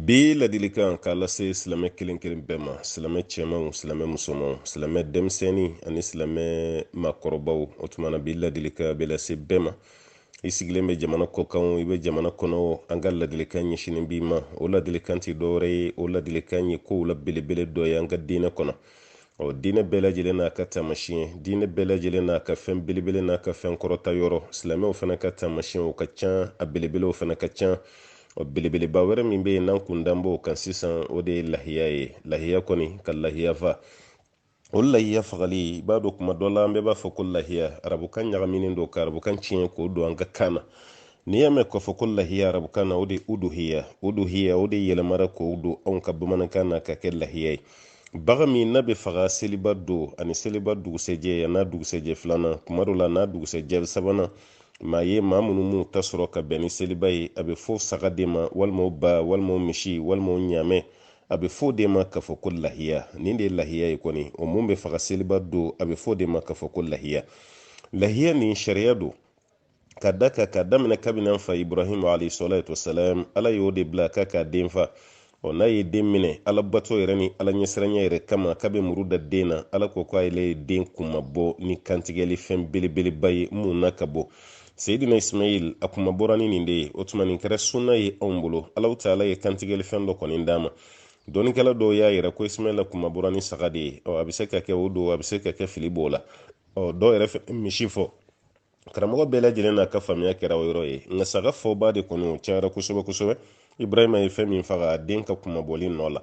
bi ladilikan k'a lase silamɛ kelen kelen bɛɛ ma silamɛ cɛmanw silamɛ musomanw silamɛ denmisɛnnin ani silamɛ makɔrɔbaw o tuma na bi ladilikan bɛ lase bɛɛ ma i sigilen bɛ jamana kɔkan wo i bɛ jamana kɔnɔ an ka ladilikan ɲɛsinnen b'i ma o ladilikan tɛ dɔwɛrɛ ye o ladilikan ye kow la belebele dɔ ye an ka diinɛ kɔnɔ ɔ diinɛ bɛɛ lajɛlen n'a ka taamasiyɛn diinɛ bɛɛ lajɛlen n'a ka fɛn belebele n'a ka fɛn kɔrɔta yɔrɔ silamɛw fana ka taamasiyɛnw ka ca a belebelew fana ka ca ɔ belebeleba wɛrɛ min bɛ yen n'an kun dan b'o kan sisan o de ye lahiya ye lahiya kɔni ka lahiya fa o lahiya fagali i b'a dɔn kuma dɔ la an bɛɛ b'a fɔ ko lahiya arabukan ɲagaminen don ka arabukan tiɲɛ k'o don an ka kan na n'i y'a mɛn k'a fɔ ko lahiya arabukan na o de ye uduhiya uduhiya o de yɛlɛmara k'o don anw ka bamanankan na ka kɛ lahiya ye bagan min n'a bɛ faga seliba don ani seliba dugusɛjɛ an'a dugusɛjɛ filanan kuma dɔ la n'a dugusɛjɛ sabanan maa ye maa minnu m'u ta sɔrɔ ka bɛn ni seliba ye a bɛ fɔ saga de ma walima o ba walima o misi walima o ɲaamɛ a bɛ f'o de ma k'a fɔ ko lahiya nin de ye lahiya ye kɔni o mun bɛ faga seliba don a bɛ f'o de ma k'a fɔ ko lahiya lahiya nin sariya don ka da ka ka daminɛ kabini an fa ibrahim alayhi salatu wasalam ala y'o de bila k'a k'a den fa ɔ n'a ye den minɛ ala bato yɛrɛ ni ala ɲɛsiranya yɛrɛ kama k'a bɛ muru da den na ala ko ko ale ye den kunmabɔ ni kantigɛli fɛn belebeleba ye mun n'a ka bon seyidina ismail a kunmabɔra ni nin de ye o tuma nin kɛra sunna ye anw bolo ala taala ye kantigɛli fɛn dɔ kɔni d'a ma dɔnnikɛla dɔw y'a yira ko ismaila kunmabɔra ni saga de ye ɔ a bɛ se ka kɛ o don a bɛ se ka kɛ fili b'o la ɔ dɔw yɛrɛ bɛ misi fɔ karamɔgɔ bɛɛ lajɛlen n'a ka faamuya kɛra o yɔrɔ ye nka saga fɔbaa de kɔni o cayara kosɛbɛ kosɛbɛ ibrahima ye fɛn min faga a den ka kunmabɔli nɔ la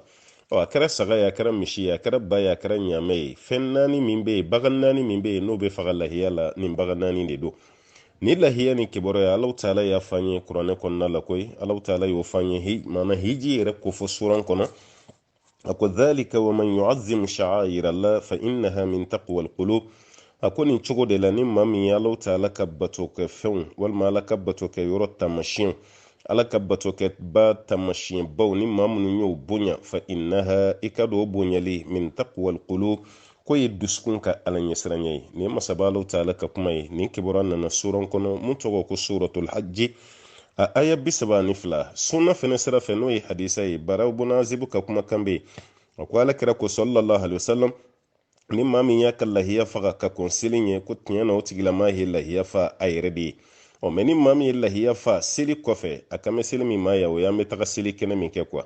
ɔ a kɛra saga ye a kɛra misi ye a kɛra ba ye a kɛra ɲaamɛ ye fɛn naani min bɛ yen bagan naani min bɛ yen n'o bɛ faga lahiya la nin bagan naani de don nin lahiya nin kibaruya ye ala taala y'a fɔ an ye kuranɛ kɔnɔna la koyi ala taala y'o fɔ an ye maana hiji yɛrɛ kofɔ suran kɔnɔ a ko dhalika wa man yu'azzimu sha'air allah fa innaha min taqwa alqulub a ko nin cogo de la ni maa min ye ala taala ka bato kɛ fɛnw walima ala ka bato kɛ yɔrɔ taamasiyɛn ala ka bato kɛ ba taamasiyɛn baw ni maa minnu y'o bonya fa innaha i k'a dɔn o bonyali min taqwa alqulub k'o ye dusukun ka ala ɲɛsiranya ye nin ye masaba ala taala ka kuma ye nin kibaruya nana suran kɔnɔ mun tɔgɔ ko suratul hajji a aya bi saba ni fila sunna fɛnɛ sira fɛ n'o ye hadisa ye baraw bun azibu ka kumakan bɛ yen a ko ala kira ko sallallahu alaihi wasallam ni maa min y'a ka lahiya faga ka kɔn seli ɲɛ ko tiɲɛ na o tigilamaa ye lahiya fa a yɛrɛ de ye ɔ mais ni maa min ye lahiya fa seli kɔfɛ a kan bɛ seli min ma ya o y'an bɛ taga seli kɛnɛ min kɛ kuwa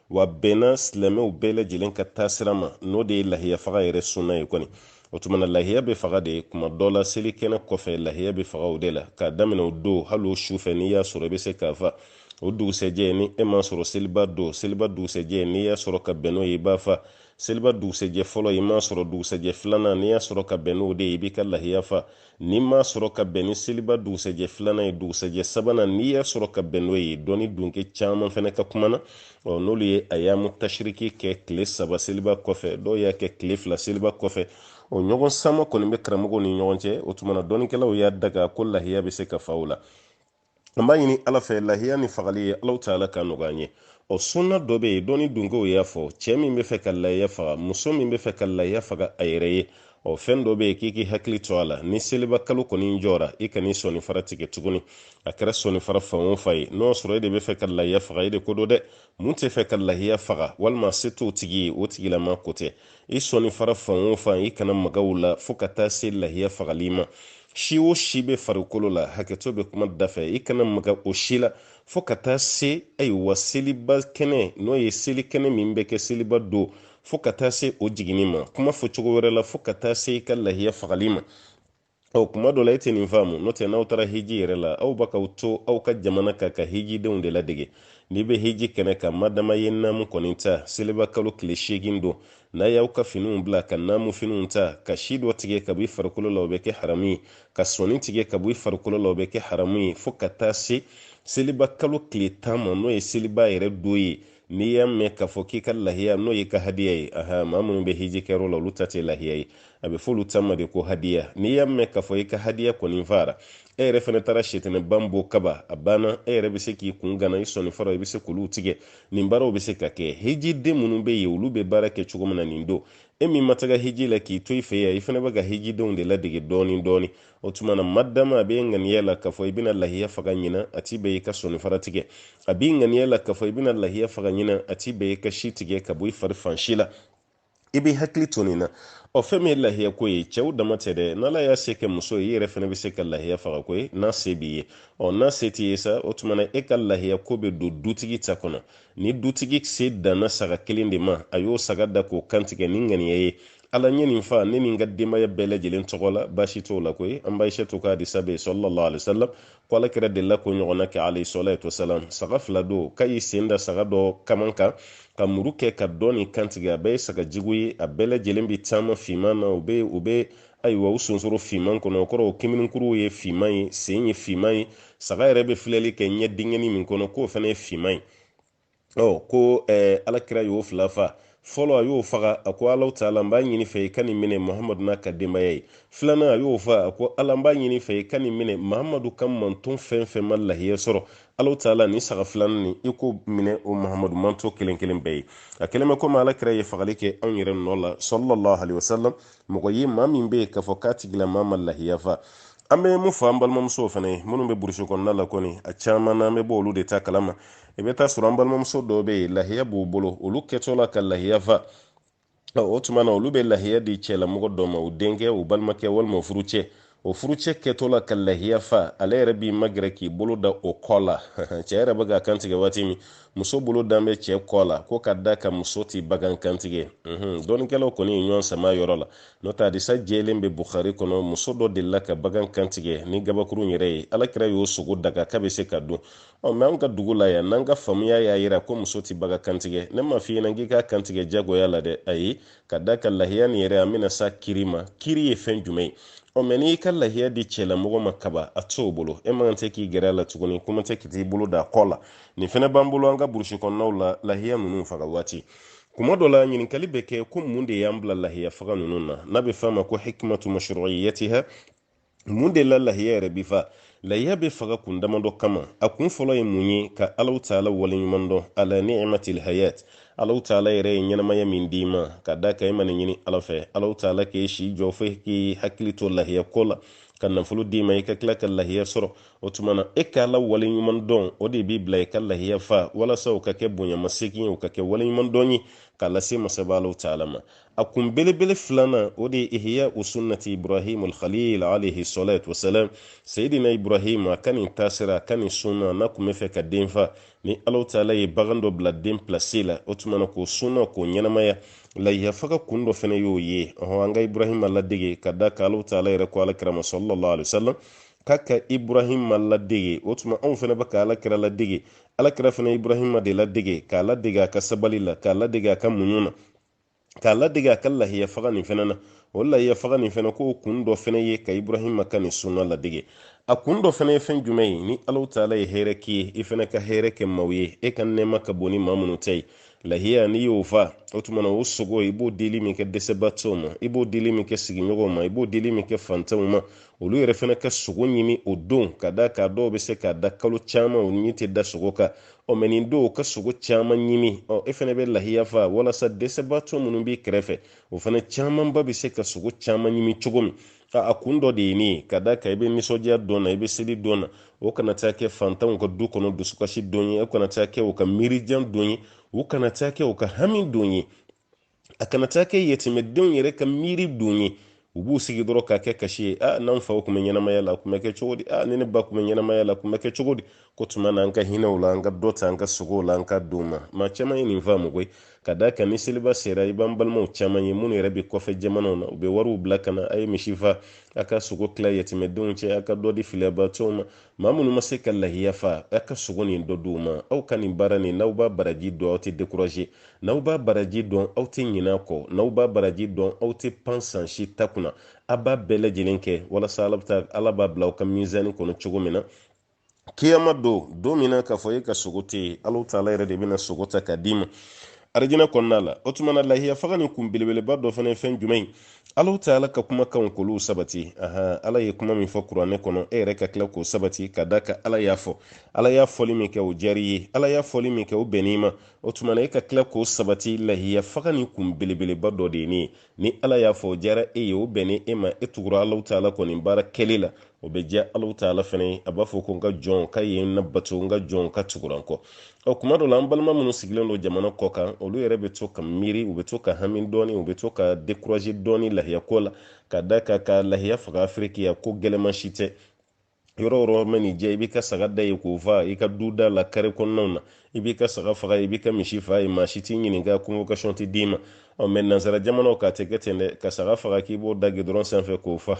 wa bɛnna silamɛw bɛɛ lajɛlen ka taasira ma n'o de ye lahiya faga yɛrɛ sunna ye kɔni o tuma na lahiya bɛ faga de kuma dɔ la seli kɛnɛ kɔfɛ lahiya bɛ faga o de la k'a daminɛ o don hali o su fɛ n'i y'a sɔrɔ i bɛ se k'a fa o dugusɛjɛ ni e m'a sɔrɔ seliba don seliba dugusɛjɛ n'i y'a sɔrɔ ka bɛn n'o ye i b'a fa seliba dugusɛjɛ fɔlɔ i m'a sɔrɔ dugusɛjɛ filanan n'i y'a sɔrɔ ka bɛn n'o de ye i b'i ka lahiya fa N'i m'a sɔrɔ ka bɛn ni seliba dugusɛjɛ filanan ye dugusɛjɛ sabanan n'i y'a sɔrɔ ka bɛn n'o ye dɔnni dunke caman fana ka kuma na ɔ n'olu ye ayamu tashiriki kɛ tile saba seliba kɔfɛ dɔw y'a kɛ tile fila seliba kɔfɛ o ɲɔgɔn sama kɔni bɛ karamɔgɔw ni ɲɔgɔn cɛ o tuma na dɔnnikɛlaw y'a daga ko lahiya bɛ se ka fa o la an b'a ɲini ala fɛ lahiya nin fagali ye alahu taala k'a nɔgɔya an ye o sunna dɔ bɛ yen dɔnni dunkew y'a fɔ cɛɛ min bɛ fɛ ka lahiya faga muso min bɛ fɛ ka lahiya faga a yɛrɛ ye ɔ fɛn dɔ bɛ yen k'i k'i hakili to a la ni seliba kalo kɔni jɔra i kan'i sɔni fara tigɛ tuguni a kɛra sɔni fara fan o fan ye n'o sɔrɔ e de bɛ fɛ ka lahiya faga e de ko don dɛ min tɛ fɛ ka lahiya faga walima se t'o tigi ye o tigilama ko tɛ i sɔni fara fan o fan i kana maga o la fo ka taa se lahiya fagali ma si o si bɛ farikolo la hakɛto bɛ kuma da fɛ i kana maga o si la fo ka taa se ayiwa seliba kɛnɛ n'o ye seli kɛnɛ min bɛ kɛ seliba don fo ka taa se o jiginni ma kuma fɔ cogo wɛrɛ la fo ka taa se i ka lahiya fagali ma ɔ kuma dɔ la e tɛ nin faamu n'o tɛ n'aw taara hiji yɛrɛ la aw bɛ k'aw to aw ka jamana kan ka hijidenw de ladege n'i bɛ hiji kɛnɛ kan madama i ye naamu kɔni ta seliba kalo tile seegin don n'aw y'aw ka finiw bila ka naamu finiw ta ka si dɔ tigɛ ka bɔ i farikolo la o bɛ kɛ haramu ye ka sɔni tigɛ ka bɔ i farikolo la o bɛ kɛ haramu ye fo ka taa se seliba kalo tile tan ma n'o ye seliba yɛrɛ don ye n'i y'a mɛn k'a fɔ k'i ka lahiya n'o y'i ka hadiya ye aha maa minnu bɛ hiji kɛyɔrɔ la olu ta tɛ lahiya ye a bɛ f'olu ta ma de ko hadiya n'i y'a mɛn k'a fɔ i ka hadiya kɔni fara e yɛrɛ fana taara setanɛba bon kaban a banna e yɛrɛ bɛ se k'i kun gana i sɔni fara i bɛ se k'olu tigɛ nin baaraw bɛ se ka kɛ hijiden minnu bɛ yen olu bɛ baara kɛ cogo min na nin don e min ma taga hiji la k'i to i fɛ yan i fana bɛ ka hijidenw de ladege dɔɔni dɔɔni o tuma na madama a b'i ŋaniya la k'a fɔ i bɛna lahiya faga ɲina a ti bɛn i ka sɔni fara tigɛ a b'i ŋaniya la k'a fɔ i bɛna lahiya faga ɲina a ti bɛn i ka si tigɛ ka bɔ i fari fan si la i b'i hakili to nin na ɔ fɛn min ye lahiya ko ye cɛw dama tɛ dɛ n'ala y'a se kɛ muso ye i yɛrɛ fana bɛ se ka lahiya faga koyi n'a se b'i ye ɔ n'a se t'i ye sa o tuma na e ka lahiya ko bɛ don dutigi ta kɔnɔ ni dutigi se danna saga kelen de ma a y'o saga da k'o kantigɛ ni ŋaniya ye ala n ye nin fa ne ni n ka denbaya bɛɛ lajɛlen tɔgɔ la baasi t'o la koyi an ba ayisatu ka hadisa bɛ salalahu alayhi wasalam ko ala kira delila k'o ɲɔgɔnna kɛ alayhi salatu wasalam saga fila don k'a y'i sen da saga dɔ kaman kan ka muru kɛ ka dɔ nin kantigɛ a bɛɛ ye saga jigi ye a bɛɛ lajɛlen bɛ taama finman na u bɛ u bɛ ayiwa u sonsoro finman kɔnɔ o kɔrɔ o kimininkuruw ye finman ye sen ye finman ye saga yɛrɛ bɛ filɛli kɛ ɲɛ dingɛnin min kɔnɔ k'o fana ye finman ye ɔ ko eh, alakira y'o fila fa fɔlɔ a y'o faga a ko alaw taala n b'a ɲini fɛ i ka nin minɛ mahamadu n'a ka denbaya ye filanan a y'o fa a ko ala n b'a ɲini fɛ i ka nin minɛ mahamadu ka manton fɛn fɛn ma lahiya sɔrɔ alaw taala ni saga filanan nin i k'o minɛ o mahamadu manton kelen kelen bɛɛ ye a kɛlen bɛ komi alakira ye fagali kɛ anw yɛrɛ nɔ la sallallahu alayhi wa sallam mɔgɔ ye maa min bɛ yen k'a fɔ k'a tigilamaa ma lahiya fa an bɛ mun fɔ an balimamusow fana ye minnu bɛ burusi kɔnɔna la kɔni a caman na an bɛ bɔ olu de ta kalama i bɛ taa sɔrɔ an balimamuso dɔw bɛ yen lahiya b'u bolo olu kɛtɔ la ka lahiya fa o tuma na olu bɛ lahiya di cɛlamɔgɔ dɔ ma u denkɛ u balimakɛ walima u furucɛ o furucɛ kɛtɔ la ka lahiya fa ale yɛrɛ b'i magɛrɛ k'i bolo da o kɔ la cɛ yɛrɛ bɛ k'a kantigɛ waati min muso bolo dan bɛ cɛ kɔ la ko ka da ka muso ti bagan kantigɛ dɔnnikɛlaw kɔni ye ɲɔgɔn sama yɔrɔ la n'o tɛ hadisa jɛlen bɛ bukari kɔnɔ muso dɔ delila ka bagan kantigɛ ni gabakuru yɛrɛ ye alakira y'o sogo daga k'a bɛ se ka dun ɔ mɛ an ka dugu la yan n'an ka faamuya y'a yira ko muso tɛ bagan kantigɛ ne ma f'i ɲɛna k'i k'a kantigɛ jagoya la dɛ ayi ka da ka lahiya nin yɛrɛ an bɛna s'a kiri ma kiri ye fɛn jumɛn ye ɔ mɛ n'i ka lahiya di cɛlamɔgɔ ma kaban a t'o bolo e mako tɛ k'i gɛrɛ a la tuguni kuma tɛ k'i t'i bolo da kɔ la nin fɛnɛ b'an bolo an ka burusi kɔnɔnaw la lahiya ninnu faga waati kuma dɔ la ɲininkali bɛ kɛ ko mun de y'an bila lahiya faga ninnu na n'a bɛ f'a ma ko hikimatu mashruiyatiha mun de la lahiya yɛrɛ bi fa lahiya bɛ faga kun damadɔ kama a kun fɔlɔ ye mun ye ka alaw taala waleɲuman dɔn ala niimatil hayat alaw taala yɛrɛ ye ɲɛnamaya min d'i ma ka da ka i man'a ɲini ala fɛ alaw taala k'e si jɔ fo k'i hakili to lahiya ko la ka nafolo d'i ma i ka tila ka lahiya sɔrɔ o tuma na e ka ala waleɲuman dɔn o de b'i bila i ka lahiya fa walasa o ka kɛ bonyamasegin ye o ka kɛ waleɲuman dɔn ye k'a lase masaba alaw taala ma a kun belebele filanan o de ye ihyau sunnati ibrahim alkhalil alayhi salatu wasalam seyidina ibrahim a ka nin taasira a ka nin sunna n'a kun b'a fɛ k'a den fa ni alaw taala ye bagan dɔ bila den pilasi la o tuma na k'o sunna k'o ɲɛnamaya lahiya faga kun dɔ fana y'o ye ɔhɔn an ka ibrahim ladege ka da ka alaw taala yɛrɛ ko alakira ma sallallahu alaihi wasallam k'a ka ibrahima ladege o tuma anw fana bɛ ka alakira ladege alakira fana ibrahima de ladege k'a ladege a ka sabali la k'a ladege a ka muɲu na k'a ladege a ka lahiya faga nin fana na o lahiya faga nin fana k'o kun dɔ fana ye ka ibrahima ka nin sunna ladege a kun dɔ fana ye fɛn jumɛn ye ni alaw taala ye hɛrɛ k'i ye i fana ka hɛrɛ kɛ maaw ye e ka nɛɛma ka bon ni maa minnu ta ye lahiya n'i y'o fa o tuma na o sogo i b'o dili min kɛ dɛsɛbaatɔw ma i b'o dili min kɛ sigiɲɔgɔnw ma i b'o dili min kɛ fantanw ma olu yɛrɛ fana ka sogo ɲimi o don ka da ka dɔw bɛ se k'a da kalo caman u ɲɛ tɛ da sogo kan ɔ mɛ nin don u ka sogo caman ɲimi ɔ e fana bɛ lahiya fa walasa dɛsɛbaatɔ minnu b'i kɛrɛfɛ o fana camanba bɛ se ka sogo caman ɲimi cogo min a kun dɔ de ye nin ye ka d'a kan i bɛ nisɔndiya don na i bɛ seli don na o kana taa kɛ fantanw ka du kɔnɔ dusukasi don ye o kana taa kɛ u ka miirijan don ye u kana taa kɛ u ka hami don ye a kana taa kɛ yatimɛdenw yɛrɛ ka miiri don ye u b'u sigi dɔrɔn ka kɛ kasi ye a n'an faw tun bɛ ɲɛnamaya la tun bɛ kɛ cogo di a ni ne ba tun bɛ ɲɛnamaya la tun bɛ kɛ cogo di k'o tuma na an ka hinɛ u la an ka dɔ ta an ka sogow la an ka d'u ma maa caman ye nin faamu koyi ka d'a kan ni seliba sera i b'an balimaw caman ye minnu yɛrɛ bɛ kɔfɛ jamanaw na u bɛ wariw bila ka na a ye misi fa a ka sogo tila yatimɛdenw cɛ a ka dɔ di filiyabaatɔw ma maa minnu ma se ka lahiya fa a ka sogo nin dɔ di u ma aw ka nin baara nin n'aw b'a baraji dɔn aw tɛ dekuraze n'aw b'a baraji dɔn aw tɛ ɲinɛ a kɔ n'aw b'a baraji dɔn aw tɛ pan san si ta kunna a b'a bɛɛ lajɛlen kɛ walasa ala taala b'a bila aw ka mizani kɔnɔ cogo min na kiyama don don min na k'a fɔ e ka sogo tɛ yen ala taala yɛrɛ de bɛna sogo ta k'a d'i ma arijinɛ kɔnɔna la o tuma na lahiya fagani kun belebeleba dɔ fana ye fɛn jumɛn ye ala taala ka kumakanw k'olu sabati ahan ala ye kuma min fɔ kuranɛ kɔnɔ e yɛrɛ ka tila k'o sabati ka d'a kan ala y'a fɔ ala y'a fɔli min kɛ o diyar'i ye ala y'a fɔli min kɛ o bɛnn'i ma o tuma na e ka tila k'o sabati lahiya fagani kun belebeleba dɔ de ye nin ye ni ala y'a fɔ o diyara e ye o bɛnna e ma e tugura ala taala kɔ nin baara kɛli la o bɛ diya ala taala fana ye a b'a fɔ ko n ka jɔnkɛ ye ne bato n ka jɔnkɛ tugura n kɔ ɔ kuma dɔ la an balima minnu sigilen don jamana kɔ kan olu yɛrɛ bɛ to ka miiri u bɛ to ka hami dɔɔni u bɛ to ka dekuraze dɔɔni lahiya ko la ka d'a kan ka lahiya faga afiriki yan ko gɛlɛman si tɛ yɔrɔ o yɔrɔ mana diy'i ye i b'i ka saga da yen k'o fa i ka du da la kare kɔnɔnaw na i b'i ka saga faga i b'i ka misi fa yen maa si t'i ɲininka convocation tɛ d'i ma ɔ mɛ nansara jamanaw kan a tɛ kɛ ten dɛ ka saga faga k'i b'o da gidɔrɔn sanfɛ k'o fa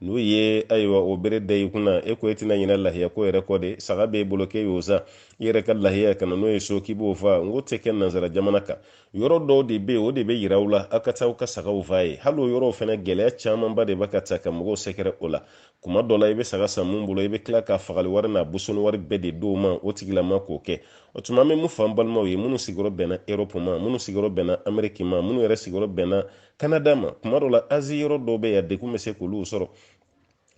n'u ye ayiwa o bere da i kunna e ko e tɛna ɲinɛ lahiya ko yɛrɛ kɔ dɛ saga b'e bolo k'e y'o san i yɛrɛ ka lahiya ka na n'o ye so k'i b'o fa n k'o tɛ kɛ nansara jamana kan yɔrɔ dɔw de bɛ yen o de bɛ yira u la aw ka taa aw ka sagaw fa yen hali o yɔrɔw fana gɛlɛya camanba de bɛ ka taa ka mɔgɔw sɛgɛrɛ o la kuma dɔ la i bɛ saga san min bolo i bɛ tila ka fagali wari n'a bosoni wari bɛɛ de d'o ma o tigilama k'o kɛ o tuma an bɛ mun fɔ an balimaw ye minnu sigiyɔrɔ bɛnna erɔpu ma minnu sigiyɔrɔ bɛnna ameriki ma minnu yɛrɛ sigiyɔrɔ bɛnna kanada ma kuma dɔ la azi yɔrɔ dɔw bɛ yen degun bɛ se k'olu sɔrɔ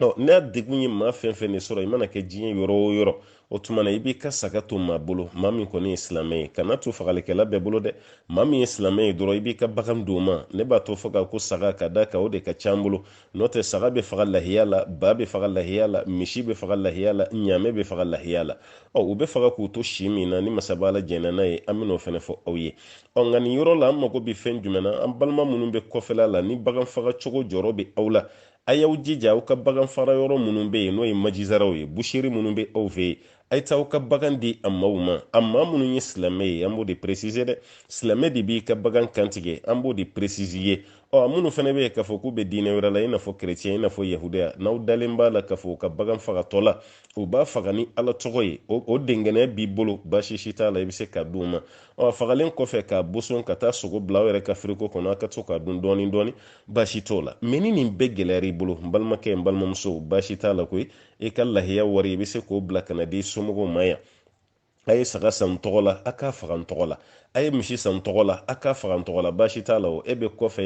ɔ n'a degun ye maa fɛn o fɛn de sɔrɔ i mana kɛ diɲɛ yɔrɔ o yɔrɔ o tuma na i b'i ka saga to maa bolo maa min kɔni ye silamɛ ye kan'a to fagalikɛla bɛɛ bolo dɛ maa min ye silamɛ ye dɔrɔn i b'i ka bagan d'o ma ne b'a to fɔ ko saga ka d'a kan o de ka ca an bolo n'o tɛ saga bɛ faga lahiya la ba bɛ faga lahiya la misi bɛ faga lahiya la ɲaamɛ bɛ faga lahiya la ɔ u bɛ faga k'u to si min na ni masaba ala jɛnna n'a ye an bɛn'o fana fɔ aw ye ɔ nka nin yɔrɔ la an mago bɛ fɛn jumɛn na an balima minnu bɛ kɔfɛla la ni bagan faga cogo jɔrɔ bɛ aw la a y'aw jija aw ka bagan faga yɔrɔ minnu bɛ yen n'o ye majizaraw ye buseri minnu bɛ aw fɛ yen a ye taa aw ka bagan di a maaw ma a maa minnu ye silamɛ ye an b'o de peresize dɛ silamɛ de b'i ka bagan kantigɛ an b'o de peresize ye ɔ a minnu fana bɛ yen k'a fɔ k'u bɛ diinɛ wɛrɛ la i n'a fɔ kerecɛn i n'a fɔ yahudiya n'aw dalen b'a la k'a fɔ u ka bagan fagatɔ la u b'a faga ni ala tɔgɔ ye o dɛnkɛnɛya b'i bolo basi si t'a la i bɛ se k'a d'u ma ɔ fagalen kɔfɛ k'a boson ka taa sogo bila aw yɛrɛ ka firigo kɔnɔ a ka to k'a dun dɔɔni dɔɔni basi t'o la mɛ ni nin bɛɛ gɛlɛyara i bolo n balimakɛ n balimamuso basi t'a la koyi i ka lahiya wari i bɛ se k'o bila ka n'a d'i somɔgɔw ma yan a ye saga san n tɔgɔ la a k'a faga n tɔgɔ la a ye misi san n tɔgɔ la a k'a faga n tɔgɔ la basi t'a la o e bɛ kɔfɛ